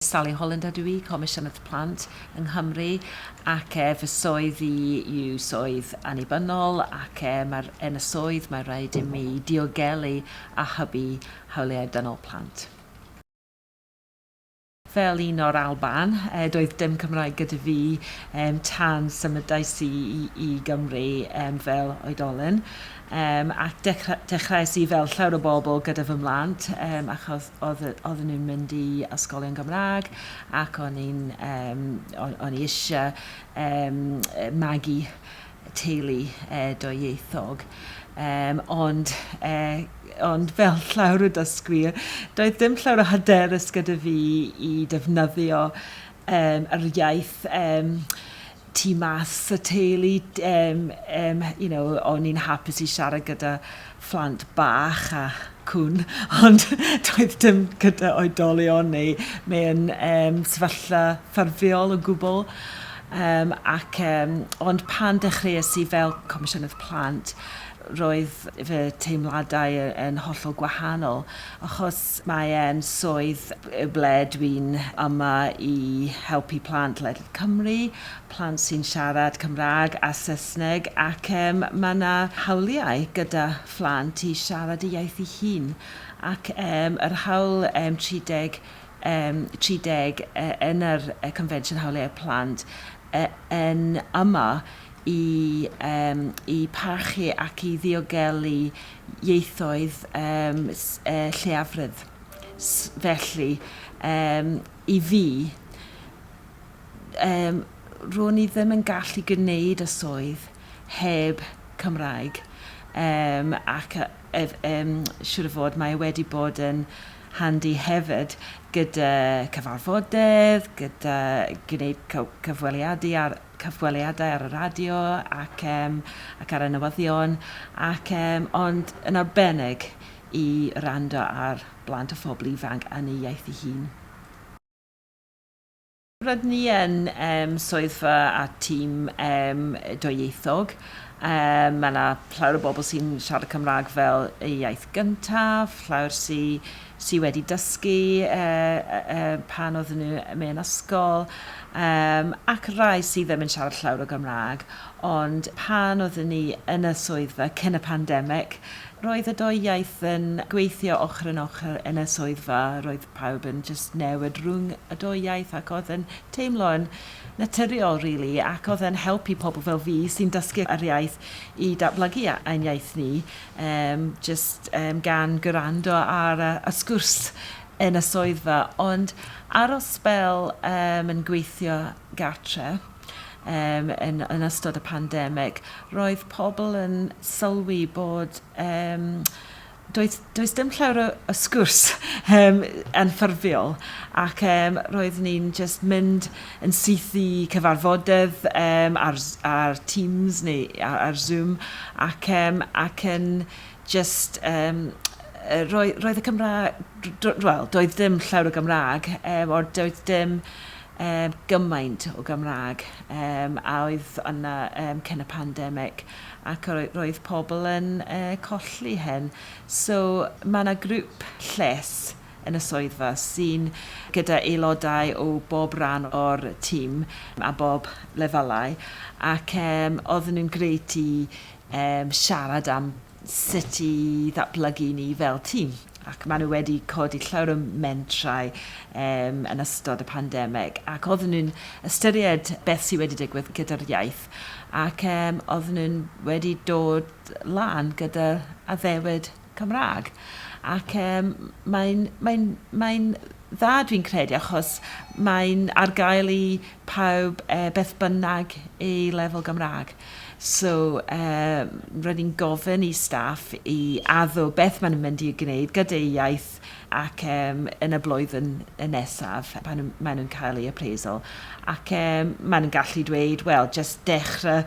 Sally Holland ydw i, Comisiynydd Plant yng Nghymru ac e, fy swydd i yw swydd annibynnol ac e, mae'r, yn y swydd mae rhaid i mi diogelu a hybu hawliau dynol plant. Fel un o'r Alban, doedd dim Cymraeg gyda fi tan symudais i i Gymru fel oedolyn, ac dechreuais i fel llawer o bobl gyda fy mhlant achos oedden nhw'n mynd i ysgolion Gymraeg ac o'n i eisiau magu teulu dwyieithog, um, ond, uh, ond fel llawr y dysgwyr, doedd ddim llawr o hyderus gyda fi i defnyddio um, yr iaith um, tu mas y teulu, um, um, you know, o'n i'n hapus i siarad gyda phlant bach a cŵn, ond doedd dim gyda oedolion neu mewn um, sefyllfa ffurfiol o gwbl. Um, ac, um, ond pan dechreuais i fel Comisiynydd Plant, roedd fy teimladau yn hollol gwahanol, achos mae e'n swydd ble dwi'n yma i helpu plant ledled Cymru, plant sy'n siarad Cymraeg a Saesneg, ac um, mae yna hawliau gyda phlant i siarad y iaith ei hun, ac um, yr hawl um, 30, um, 30 uh, yn yr uh, Confensiwn Hawliau Plant uh, yn yma i, um, i parchu ac i ddiogelu ieithoedd um, uh, lleiafredd. Felly, um, i fi, um, ro'n i ddim yn gallu gwneud y swydd heb Cymraeg yym ac yy ef- yym siŵr o fod mae e wedi bod yn handi hefyd gyda cyfarfodydd, gyda gwneud cy- cyfweliadu ar cyfweliadau ar y radio ac yym ac ar y newyddion ac yym ond yn arbennig i wrando ar blant a phobl ifanc yn ei iaith ei hun. Rydyn ni yn swyddfa a tîm dwyieithog, mae 'na llawer o bobl sy'n siarad Cymraeg fel eu iaith gyntaf, llawer sy sy wedi dysgu pan oedden nhw mewn ysgol, yym ac rai sydd ddim yn siarad llawer o Gymraeg, ond pan oedden ni yn y swyddfa cyn y pandemig, roedd y dwy iaith yn gweithio ochr yn ochr yn y swyddfa, roedd pawb yn jyst newid rhwng y dou iaith ac oedd yn teimlo yn naturiol rili ac oedd e'n helpu pobl fel fi sy'n dysgu yr iaith i datblygu ein iaith ni yym jyst yym gan gwrando ar y y sgwrs yn y swyddfa ond ar ol sbel yym yn gweithio gartre yym yn yn ystod y pandemig roedd pobl yn sylwi bod yym Does, does dim llawer o, o sgwrs um, yn ffurfiol ac um, roeddwn ni'n just mynd yn syth i cyfarfodydd um, ar, ar Teams neu ar, ar Zoom ac, um, ac yn just um, roedd, roedd y Cymraeg, well, doedd dim llawer o Gymraeg, um, o'r doedd dim Yym gymaint o Gymraeg yym a oedd yna yym cyn y pandemic ac yy roedd pobl yn yy colli hyn. So ma' 'na grŵp lles yn y swyddfa sy'n gyda aelodau o bob ran o'r tîm a bob lefelau ac yym oedden nhw'n grêt i yym siarad am sut i ddatblygu ni fel tîm, ac maen nhw wedi codi llawer o mentrau um, yn ystod y pandemig, ac oedden nhw'n ystyried beth sydd wedi digwydd gyda'r iaith, ac um, oedden nhw'n wedi dod lan gyda addewid Cymraeg. Ac um, mae'n mae mae dda dwi'n credu achos mae'n ar gael i pawb e, beth bynnag ei lefel Gymraeg. So um, roedd hi'n gofyn i staff i addo beth maen nhw'n mynd i gwneud gyda'u iaith ac um, yn y blwyddyn nesaf pan nhw, maen nhw'n cael ei appraisal. Ac um, maen nhw'n gallu dweud, wel, just dechrau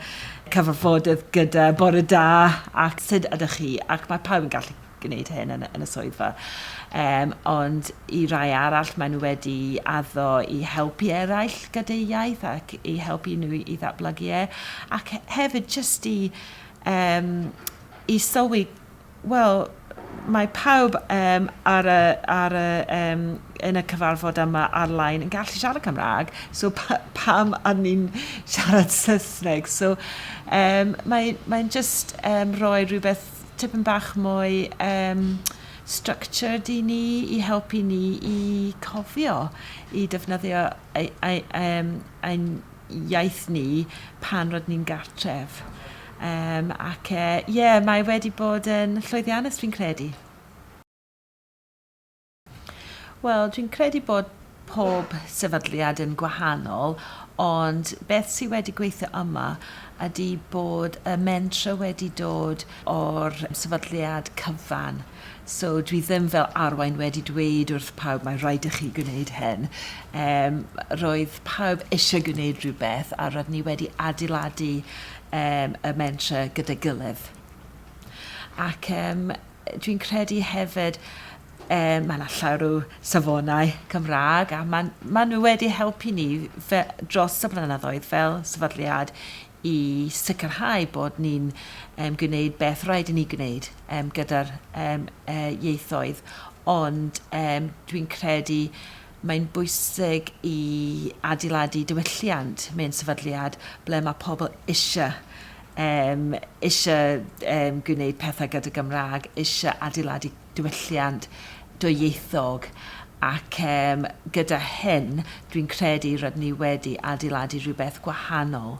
cyfarfodydd gyda bore da ac sut ydych chi? Ac mae pawb yn gallu gwneud hyn yn, yn y swyddfa. Um, ond i rai arall, maen nhw wedi addo i helpu eraill gyda'u iaith ac i helpu nhw i ddatblygu e. Ac hefyd jyst i, um, i sylwi, wel, mae pawb um, ar y, ar y, um, yn y cyfarfod yma ar-lein yn gallu siarad Cymraeg, so pa, pam ar ni'n siarad Saesneg? So um, mae'n mae just um, rhoi rhywbeth tipyn bach mwy um, structured i ni, i helpu ni i cofio, i defnyddio ein, ein, ein, ein iaith ni pan rydyn ni'n gartref. Um, ac ie, uh, yeah, mae wedi bod yn llwyddiannus fi'n credu. Wel, dwi'n credu bod pob sefydliad yn gwahanol, ond beth sydd wedi gweithio yma ydy bod y mentrau wedi dod o'r sefydliad cyfan. So dwi ddim fel arwain wedi dweud wrth pawb mae rhaid i chi gwneud hyn. Yym roedd pawb eisiau gwneud rhywbeth a roedd ni wedi adeiladu yym y mentrau gyda'i gilydd. Ac yym Dwi'n credu hefyd yy ma' 'na llawer o safonau Cymrâg a ma'n ma' nw wedi helpu ni fe- dros y blynyddoedd fel sefydliad i sicrhau bod ni'n yym gwneud beth rhaid i ni gwneud yym gyda'r yym yy ieithoedd ond yym dwi'n credu Mae'n bwysig i adeiladu diwylliant mewn sefydliad ble mae pobl eisiau, yym, eisiau yym gwneud pethau gyda Gymraeg, eisiau adeiladu diwylliant dwyieithog ac yym gyda hyn dwi'n credu rydyn ni wedi adeiladu rhywbeth gwahanol.